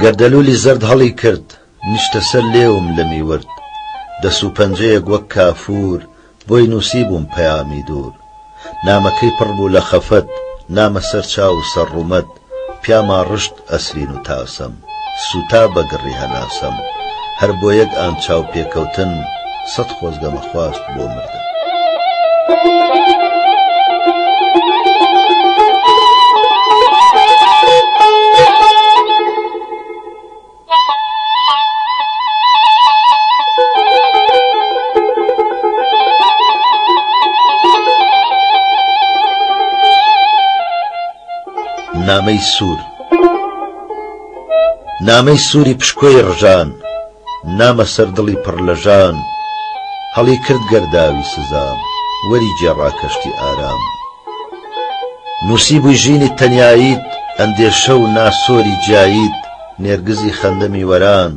گەردەلوولی زەرد هەڵی کرد، نیشتە سەر لێوم لە میورد، دەس و پەنجەیەک وەک کافوور، بۆی نووسیبووم پەیامی دوور. نامەکەی پڕ بوو لە خەفەت، نامە سەر چاو و سەر ڕوومەت، پیاما ڕشت ئەسرین و تاسەم. سوتا بە گڕی هەناسەم هەر بۆ یەک ئان چاو پێکەوتن سەد خۆزگە مەخواست بۆ مردن. نامەی سوور. نامەی سووری پشکۆی ڕژان نامە سەر دڵی پڕ لە ژان هەڵی کرد گەرداوی سزام وەری گێڕا کەشتی ئارام نووسی بووی ژینی تەنیاییت ئەندێشە و ناسۆری جیاییت نێرگزی خەندەمی وەران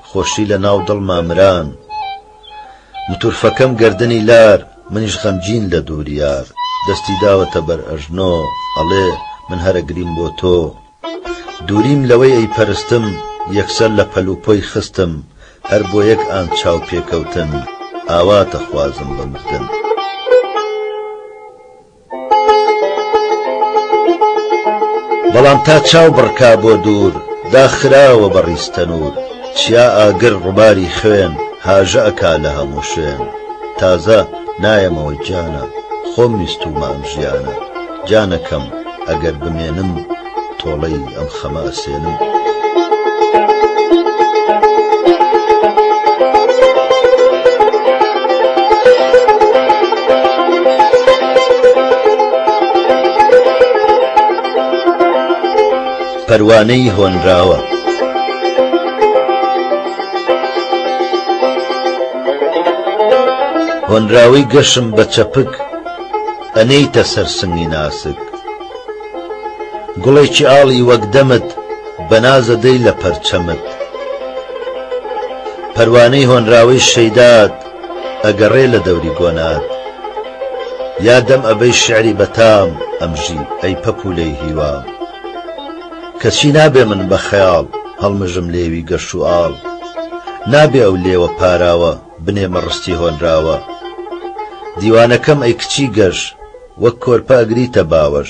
خۆشی لە ناو دڵ مامران متورفەکەم گردنی لار منیش غەمگین لە دووریار دەستی داوەتە بەر ئەژنۆ ئەڵێ من هەرەگریم بۆ تۆ دووریم لەوەی ئەیپەرستم یەکسەر لە پەل و پۆی خستم هەر بۆ یەک ئان چاو پێکەوتن ئاوات دەخوازم بە مردن. بەڵام تا چاو بڕکا بۆ دوور دا خراوە بە ڕیز تەنوور چیا ئاگر ڕوباری خوێن هاژە ئەکا لە هەموو شوێن تازە نایەمەوە گیانە خۆم ویستومە ئەم ژیانە. جانەکەم ئەگەر بمێنم تۆڵەی ئەم خەمە ئەسێنم. پەروانەی هۆنراوە هۆنراوەی گەشم بە چەپک ئەنێیتە سەر سنگی ناسک گوڵێکی ئاڵی وەک دەمت بە ناز ئەدەی لە پەرچەمت پەروانەی هۆنراوەی شەیدات ئەگەڕێ لە دەوری گۆنات یا دەم ئەبەی شعری بەتام ئەمژی ئەی پەپوولەی هیوام کەچی نابێ من بە خەیاڵ هەڵمژم لێوی گەش و ئاڵ نابێ ئەو لێوە پاراوە بنێ مەڕستی هۆنراوە دیوانەکەم ئەی کچی گەش وەک کۆرپە ئەگریتە باوەش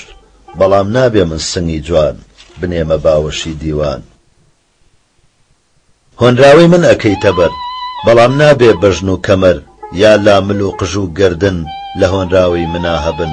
بەڵام نابێ من سنگی جوان بنێمە باوەشی دیوان هۆنراوەی من ئەکەیتە بەر بەڵام نابێ بەژن و کەمەر یا لامل و قژ و گەردن لە هۆنراوەی منا هەبن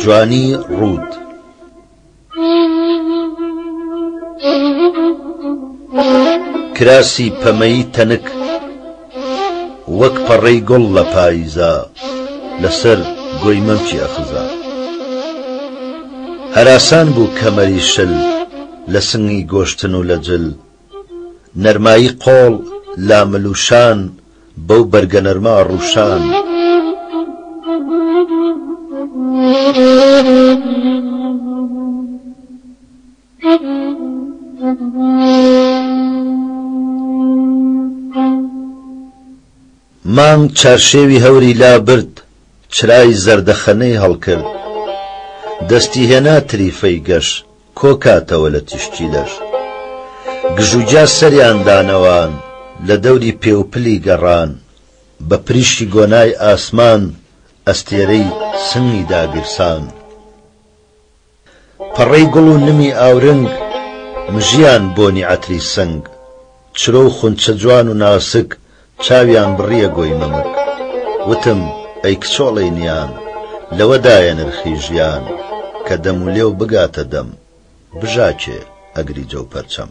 جوانی ڕووت. کراسی پەمەیی تەنک وەک پەڕەی گوڵ لە پاییزا لەسەر گۆی مەمکی ئەخزا هەراسان بوو کەمەری شل لە سنگی گۆشتن و لە جل نەرمایی قۆڵ لامل و شان بەو بەرگە نەرمە ئەڕووشان. مانگ چارشێوی هەوری لابرد چرای زەردەخەنەی هەڵکرد دەستی هێنا تریفەی گەش. کۆکاتەوە لە تیشکی لەش. گژوگیا سەریان دانەوان، لە دەوری پێوپلی گەڕان، بە پریشکی گۆنای ئاسمان ئەستێرەی سنگی داگیرسان. پەڕەی گوڵ و نمی ئاورنگ، مژیان بۆنی عەتری سنگ. چرۆ و خونچە جوان و ناسک چاویان بڕیە گۆی مەمک وتم ئەی کچۆڵەی نیان لەوەدایە نرخی ژیان کە دەم و لێو بگاتە دەم بژاکێ ئەگری جەو پەرچەم.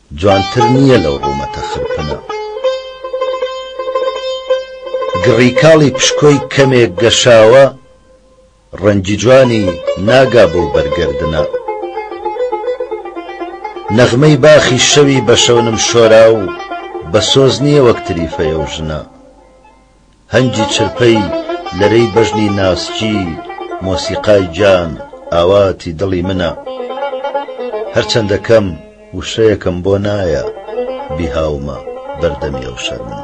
جوانتر نییە لەو ڕوومەتە خرپنە. گڕی کاڵی پشکۆی کەمێک گەشاوە، ڕەنگی جوانی ناگا بەو بەرگەردنە. نەغمەی باخی شەوی بە شەونم شۆراو، بە سۆز نییە وەک تریفەی ئەو ژنە. هەنگی چرپەی لەرەی بەژنی ناسکی مۆسیقای گیان ئاواتی دڵی منە هەرچەندە کەم وشەیەکم بۆ نایە بیهاومە بەردەمی ئەو شەرمن.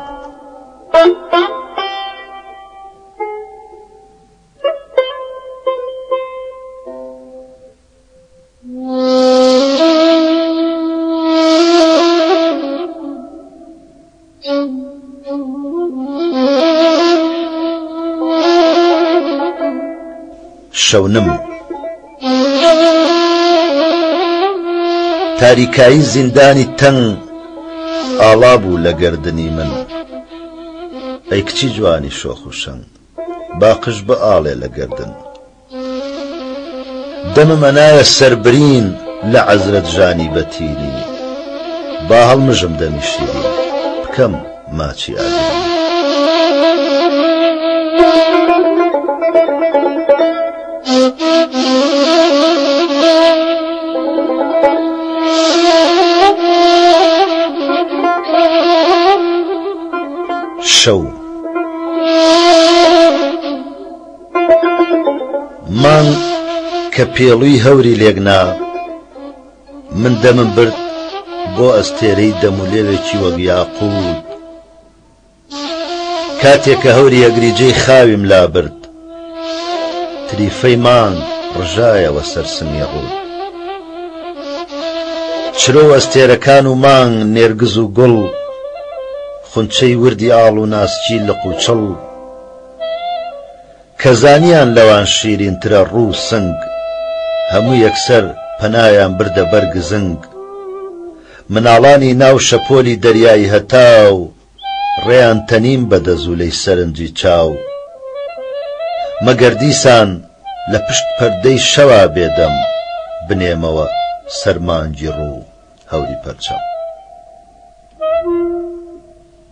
شەونم تاریکایی زیندانی تەنگ ئاڵا بوو لە گردردنی من ئەی کچی جوانی شۆخ و شەنگ باقش بە ئاڵێ لە گردن دەمم ئەنایە سەر برین لە عەزرەت ژانی بە تیری با هەڵمژم دەمی شیرین بکەم ماچی ئاگرین. شەو. مانگ کە پێڵوی هەوری لێک نا من دەمم برد بۆ ئەستێرەی دەم و لێوێکی وەک یاقووت کاتێک کە هەوری ئەگری جێی خاویم لا برد تریفەی مانگ ڕژایەوە سەر سنگی ڕووت چرۆ ئەستێرەکان و مانگ نێرگز و گوڵ خونچەی وردی ئاڵ و ناسکی لق و چڵ کە زانیان لەوان شیرین ترە ڕوو سنگ هەموو یەکسەر پەنایان بردە بەر گزنگ مناڵانی ناو شەپۆلی دەریای هەتاو ڕێیان تەنیم بە دەزوولەی سەرنجی چاو مەگەر دیسان لە پشت پەردەی شەوا بێدەم بنێمەوە سەر مانگی ڕوو هەوری پەرچەم.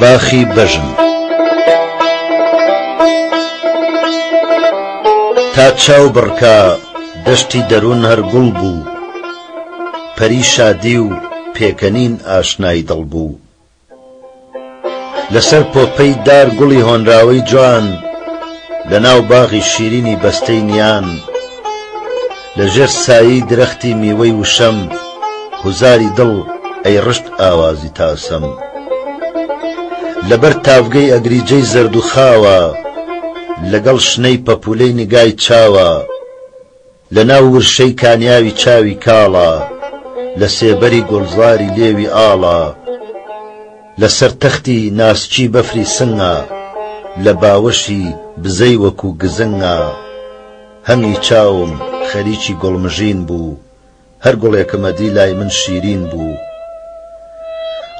باخی بەژن تا چاو بڕکا دەشتی دەروون هەر گوڵ بوو پەری شادی و پێکەنین ئاشنای دڵ بوو لەسەر پۆپەی دار گوڵی هۆنراوەی جوان لە ناو باغی شیرینی بەستەی نیان لە ژێر سایەی درەختی میوەی وشەم هوزاری دڵ ئەی ڕشت ئاوازی تاسەم لەبەر تاڤگەی ئەگریجەی زەرد و خاوە لەگەڵ شنەی پەپوولەی نیگای چاوە لەناو ورشەی کانیاوی چاوی کاڵە لە سێبەری گوڵزاری لێوی ئاڵە لەسەر تەختی ناسکی بەفری سنگە لە باوەشی بزەی وەکوو گزنگە هەمی چاوم خەریکی گوڵمژین بوو هەر گوڵێکم ئەدی لای من شیرین بوو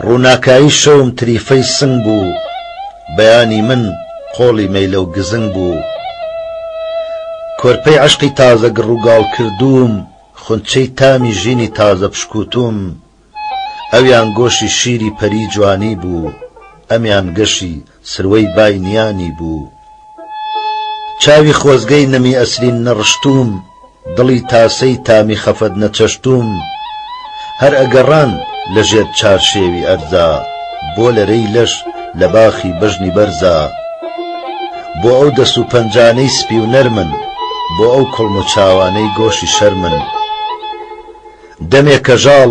ڕووناکایی شەوم تریفەی سنگ بوو بەیانی من قۆڵی مەیلە و گزنگ بوو کۆرپەی عەشقی تازە گڕوگاڵکردووم خونچەی تامی ژینی تازە پشکووتووم ئەویان گۆشی شیری پەری جوانی بوو ئەمیان گەشی سروەی بای نیانی بوو چاوی خۆزگەی نەمی ئەسرین نەڕشتووم دڵی تاسەی تامی خەفەت نەچەشتووم هەر ئەگەڕان لە ژێر چارشێوی ئەرزا بۆ لەرەی لەش لە باخی بەژنی بەرزا بۆ ئەو دەست و پەنجانەی سپی و نەرمن بۆ ئەو کوڵم و چاوانەی گۆشی شەرمن دەمێ کەژاڵ.